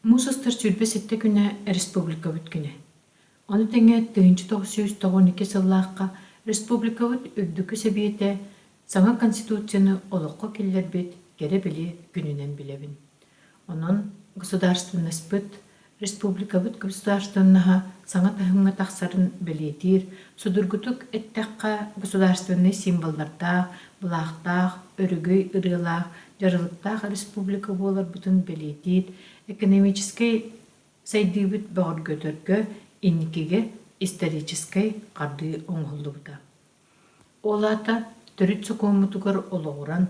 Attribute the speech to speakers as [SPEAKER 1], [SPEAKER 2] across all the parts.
[SPEAKER 1] Муус астар сүүрбэ сэттэ күнэ республикабыт күнэ. Ону тэҥэ тыһыынча тоҕус сүүс тоҕон икки сыллаахха республикабыт Үрдүкү Сэбиэтэ саҥа Конституцияны олоххо киллэрбит кэрэ-били күнүнэн билэбин. Онон государственнаспыт, республикабыт государственнаһа саҥа таһымҥа тахсарын бэлиэтиир, судургутук эттэххэ, государственнай символлардаах, былаахтаах, өрүгүй ырыалаах дьарылыктаах республика буоларбытын бэлиэтиир экономическай сайдыыбыт бөҕөргөтөргө инникигэ историческай хардыы оҥоһуллубута. Ол аата төрүт сокуоммутугар олоҕуран,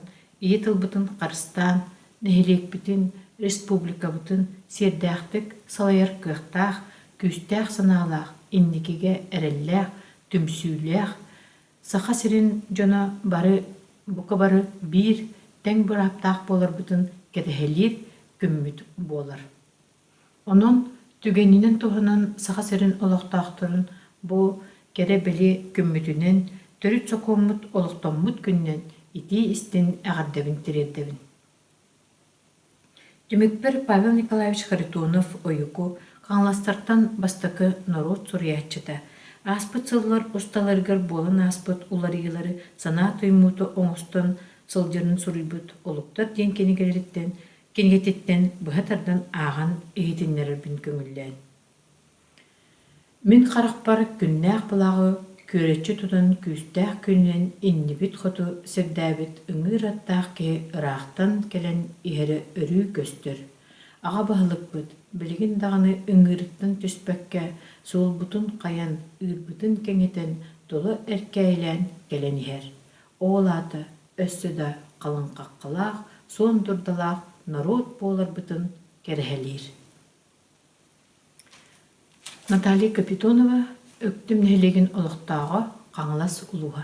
[SPEAKER 1] ийэ тылбытын харыстаан, нэһилиэкпитин, республикабытын сиэрдээхтик салайар кыахтаах, күүстээх санаалаах, инникигэ эрэллээх, түмсүүлээх, Саха сирин дьоно бары бука бары биир тэҥ бырааптаах буоларбытын кэтэһэлиир күммүт буолар. Онон түгэнинэн туһанан Саха сирин олохтоохторун бу кэрэ-били күммүтүнэн, төрүт сокуоммут олохтоммут күнүнэн итии-истин эҕэрдэбин тириэрдэбин. Түмүкпэр Павел Николаевич Харитонов-Ойуку хаҥаластартан бастакы норуот суруйааччыта, ааспыт сыллар усталарыгар буолан ааспыт уларыйыылары санаа туймуута оҥостон сылдьарын суруйбут Олуктар диэн кинигэлэриттэн кинигэтиттэн быһа тардан ааҕан иһитиннэрэрбин көҥүллээн Мин харахпар күннээх былаҕы күөрэччи тутан күүстээх күнүнэн иннибит хоту сирдээбит ыҥыыр аттаах киһи ыраахтан кэлэн иһэрэ өрүү көстөр, аҕа баһылыкпыт билигин даҕаны ыҥыырыттан түспэккэ суолбутун хайан, ыырбытын кэҥэтэн тула эркээйилээн кэлэн иһэр, ол аата өссө да халыҥхаххалаах, суон дурдалаах норуот буоларбытын кэрэһэлиир Наталья Капитонова Өктүм нэһилиэгин олохтооҕо Хаҥалас улууһа